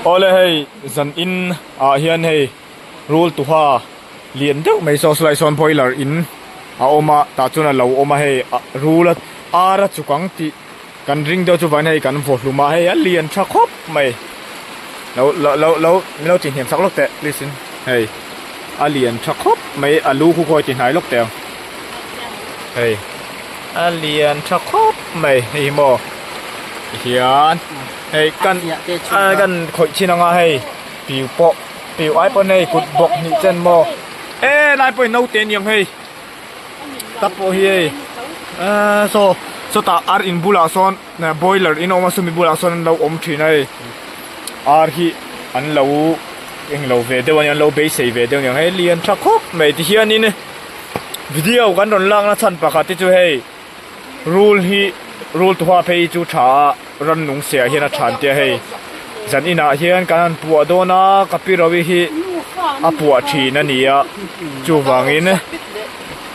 Awle hei zan in ah hian hei rul tuha lian deuh mai saw sulai sawn boiler in a awm a tah chuan a lo awm a hei ah rula ar a chukang tih kan ring deuh chu vain hei kan vawhlum a hei a lian tha khawp mai lo lo lo min lo tih hniam sak lawk teh please in hei a lian tha khawp mai a lu khu khawi ti hnai lawk teh ang hei a lian tha khawp mai hei hi maw hian Hei kan kan khawih chin anga hei piu pawh piu ai pawn hei kut bawk hnih chen maw e nai pawhin naute a ni ang hei ta pawh hi hei aaa saw sawtah ar in bulah sawn boiler in a awm a chumi bulah sawn an lo awm thin a hei ar hi an lo eng lo ve deuh a ni ang an lo beisei ve deuh a ni ang hei lian tha khawp mai tihianin video kan rawn lakna chhan pakhat hi chu hei. Rule hi rule tuha phei hi chu tha a ran nung se ah hian a than tia hei zan in ah hian kan han puah dawn a ka pi rawi hi a puah thin a nia chu vang in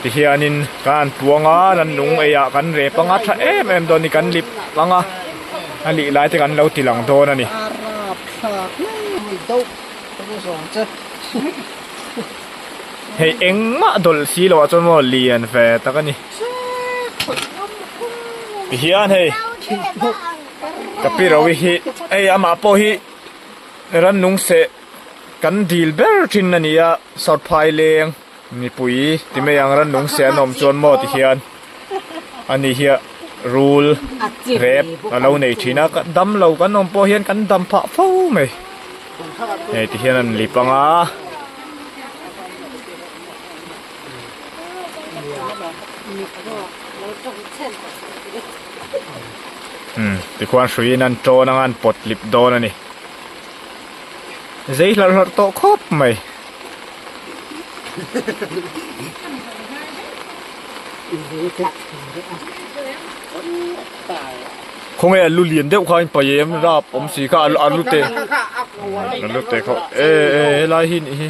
ti hian in kan han puang a ran nung ei ah kan rep anga tha em em dawn i kan lip ang a a lih lai te kan lo ti lang dawn a ni. Hei engmah dawlh si lo ah chuan maw lian ve tak a ni. Hian hei ka pi ro hi hei amah pawh hi ran nung seh kan dil ber thin a nia sorphai leng mipui ti mai ang ran nung seh an awm chuan maw ti hian ani hi rul rep a lo nei thin a dam lo kan awm pawh hian kan dam phah fo mai hei ti hian a ni panga. Tikhua an hruiin an tawn anga an pawt lip dawn a ni. Zei hlar hlar tawh khawp mai. Khaw nge a lu lian deuh kha in paih em rap awm si kha a lu te a lu te khaw e e helai hi nih hi.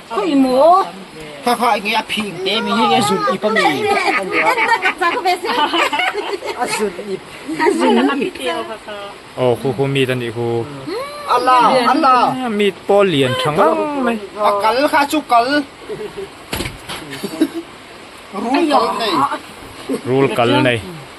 Khawi maw? Kha kha enge a phing te mi hi a zun ip ami. A zun ip. A zun ip. Oh khu khu mi ta ni khu. Ala ala. Mi pawl lian thang ang mai. A kal kha chu kal. Rul kal nei. Rul kal nei.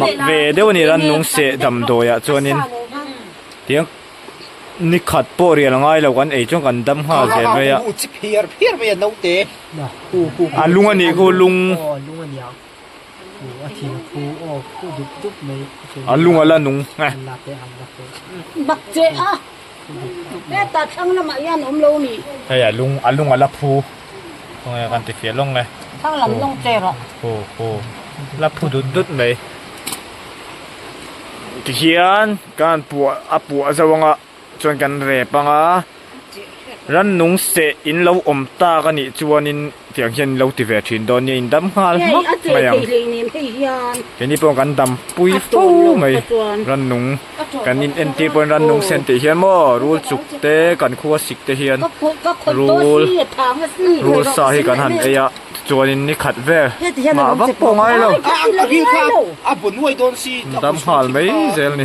mak ve deuh a ni ran nung seh damdawiah chuanin tiang nikhat pawh rial ngai lo kan ei chuan kan dam nghal ve mai a a lung a nih chu lung a lung a la nung. Heta thlang lamah hian awm lo ni. Hei a lung a lung a la phu khaw nge kan tifiah lawng e. Thlang lam lawng cherah. Hu hu la phu dut dut mai. Tihian kan puah a puah zo anga chuan kan rep anga rannung seh in lo awm tak anih chuanin. Tiang hian in lo ti ve thin dawn nia in dam nghal hmak mai ang keini pawh kan dam pui fo mai rannung kan in entir pawhin rannung se an tih hian maw rul chuk te kan khua sik te hian rul rul sa hi kan han ei a tichuanin ni khat vel nghah vak pawh a ngai lo in dam nghal mai zel ni.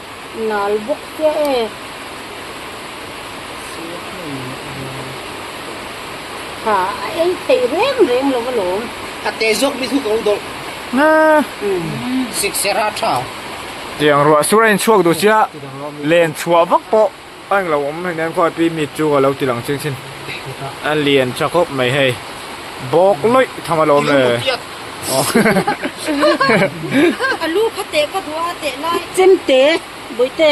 Nal bawk tia e. Ha a ei theih reng reng lo alawm. Ka teh zawk mi thu ka u dawlh. Nga. Siksera tha. Tiang ruah sura inchhuak duh chiah len chhuah vak pawh. A heng lo awm hian khuai pi mi chu a lo ti lang ching chin a lian tha khawp mai hei bawk lawih tham a lo awm e a lu kha teh ka hmu a teh lai chemte bawihte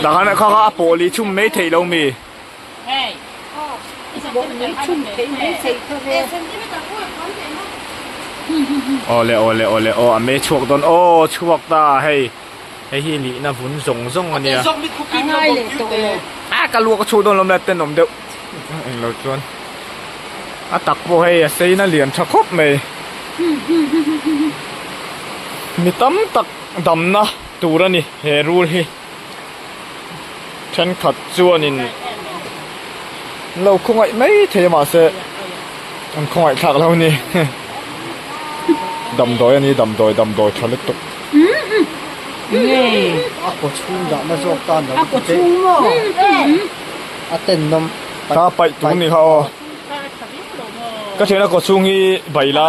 dah khan kha kha a pawh lih chhum mai theih lo mi. Awle awle awle aw a meh chhuak dawn aw chhuak ta hei hei hi lihna vun zawng zawng a nia a ka luak a chhuak dawn lawm le ten awm deuh eng lo chuan a tak pawh hei a sein a lian tha khawp mai mi tam tak damna tur a ni he rul hi. thenkhat chuanin an lo khawngaih mai thei a mahse an khawngaih thlak lo ni heh damdawi a ni damdawi damdawi tha lutuk a kaw chhung dahna zawk tan lo ti te a tennawm ka paih tur ni kha aw ka thian a kaw chhung hi bai la.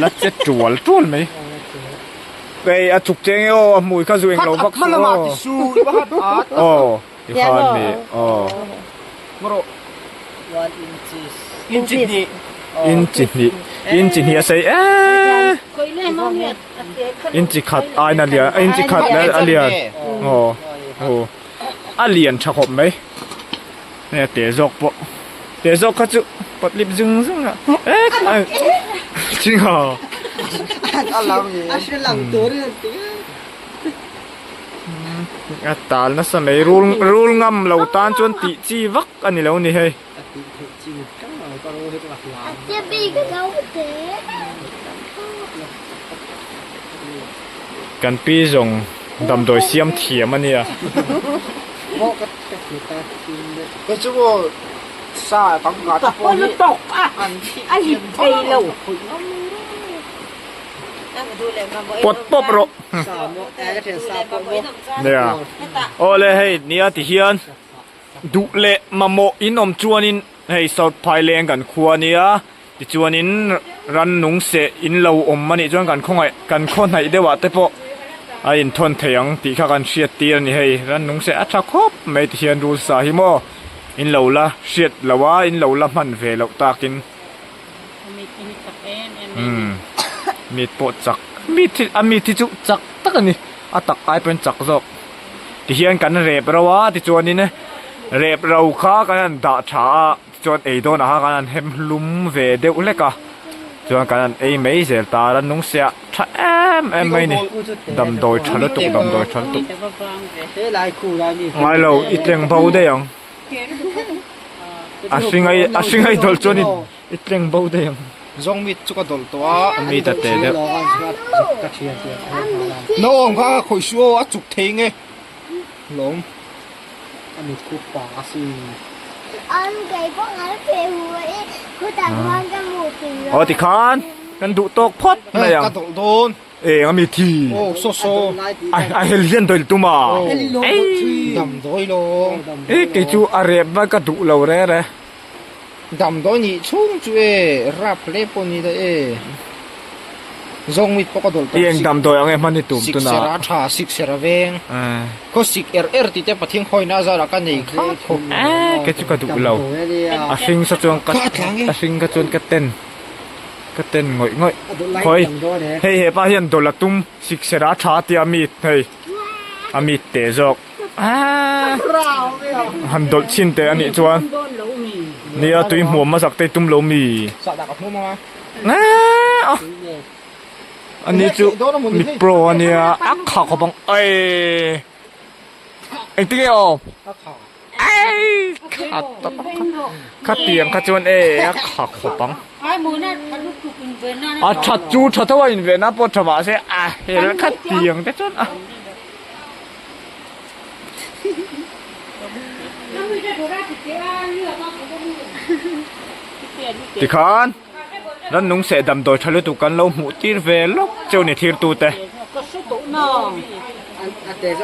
la che tual tual mai. Kei a chuk cheng e aw a hmui kha zuing lo vak chu aw. Aw i khan ni aw. Ngarawh one inches. Inchi hnih. Inchi hnih inchi hnih a sei eeh. Kawile mo hi a te kha lo. Inchi khat aina a lian inchi khat a lian aw aw a lian tha khawp mai. Hei a teh zawk pawh. Teh zawk kha chu patlip zung zung a. Ching haw. A lo ni. A hre lang tur a ti a. A tal nasa mai. Rul rul ngam lo tan chuan tih chi vak a ni lo ni hei. A tih theih chin tlangval ka rawh hi ka ngak lam. A tia bik a lo teh. Kan pi zawng damdawi siam thiam a nia. Pawt pawp rawh. Nia. Aw le hei nia ti hian duh leh mamawh in awm chuanin hei sawrhphai leng kan khua nia. Tichuanin ran nung seh in lo awm a nih chuan kan khawngaih kan khawhnaih deuhah te pawh a inthawn thei ang tih kha kan hriat tir a ni hei. Ran nung seh a tha khawp mai ti hian rules ah hi maw in lo la hriat loh a, in lo la hman ve loh takin umm meat pawh chak meat hi a meat hi chu chak tak a ni, a tak ai pawhin chak zawk ti hian kan rep rauh a tichuanin rep rau kha kan han dah tha a. Chuan ei dawn ah kan han hem hlum ve deuh hlek a, chuan kan han ei mai zel ta a, nungsia tha em em mai a ni, damdawi tha lutuk damdawi tha lutuk. Ngai lo i tleng bo daih ang, a hringai a hringai dawlh chuan i i tleng bo daih ang. Zawng mit chu ka dawlh tawh a. A mi ta teh deuh. Na awm kha khawih suh aw a chuk thei nge hlawm. A mit khup pa a si. An kei pawh ngal pe hu i khutah khuan ka hmu thin lo. Aw tikhan kan duh tawk phawt mai ang. Ka dawlh dawn. Eng a mi thi. Aw saw saw. A hel hian dawil tum a. Ei. Dam dawi lo. Ei kei chu a rep val ka duh lo reng reng. Damdawi nih chhung chu e, rap hle pawh ni da e. Zawng mit pawh ka dawlh tawh. I eng damdawi ang e hman i tum tuna. Siksera tha, siksera veng. Khaw sik er er tih te pathian khawina zar ah ka nei khat khawp. Aaa ke chu ka duh lo. A hring sa chuan ka a hring kha chuan ka ten ka ten ngawih ngawih. Khawi hei hepa hian dawlh a tum siksera tha tia mit hei a mit teh zawk. Han dawlh chin teh anih chuan nia tui hmuam mazak te i tum lo mi ani chu mi pro ania akha khawp ang ai engti nge aw kha tiang kha chuan e akha khawp ang a that chu that ho a inven a pawh tha mahse a hel kha tiang te chuan a. Tikhan ran nung seh damdawi tha lutuk kan lo hmuh tir ve lawk chu ni thlir tute.